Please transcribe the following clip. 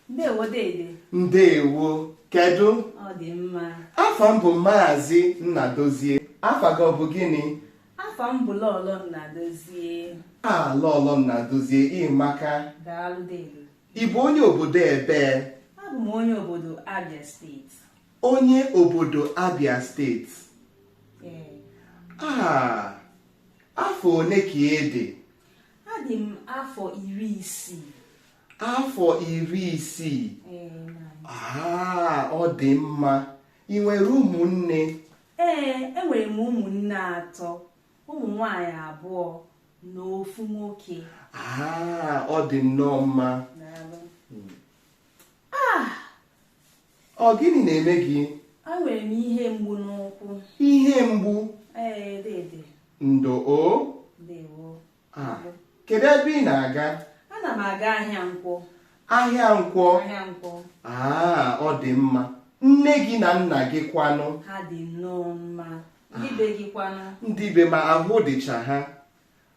ndewo dede ndewo kedu ọ dị mma afa m bụ maazị nnadozie afa gị ọ bụ gịnị afa m bụ lọlọ nnadozie a lọlọ nnadozie ị maka daalụ dede ị bụ onye obodo ebee abụ m onye obodo abia steeti onye obodo abia steeti ee a afọ one ka ị dị adị m afọ iri isii afọ iri isii ọ dị mma i nwere ụmụnne ee enwere m ụmụnne atọ ụmụ nwanyị abụọ na ofu nwoke ọ dị nnọọ mma Ọ gịnị na-eme gị? Enwere m ihe mgbu n'ụkwụ. Ihe mgbu? Ee, dede. Ndo o. Ndewo. Ah, kedu ebe ị na-aga? Ana m aga ahịa nkwọ. Ahịa nkwọ? Ahịa nkwọ. Ah, ọ dị mma. Nne gị na nna gị kwanụ? Ha dị nnọọ mma. Ndị be gị kwanụ? Ndị be m, ahụ dịcha ha.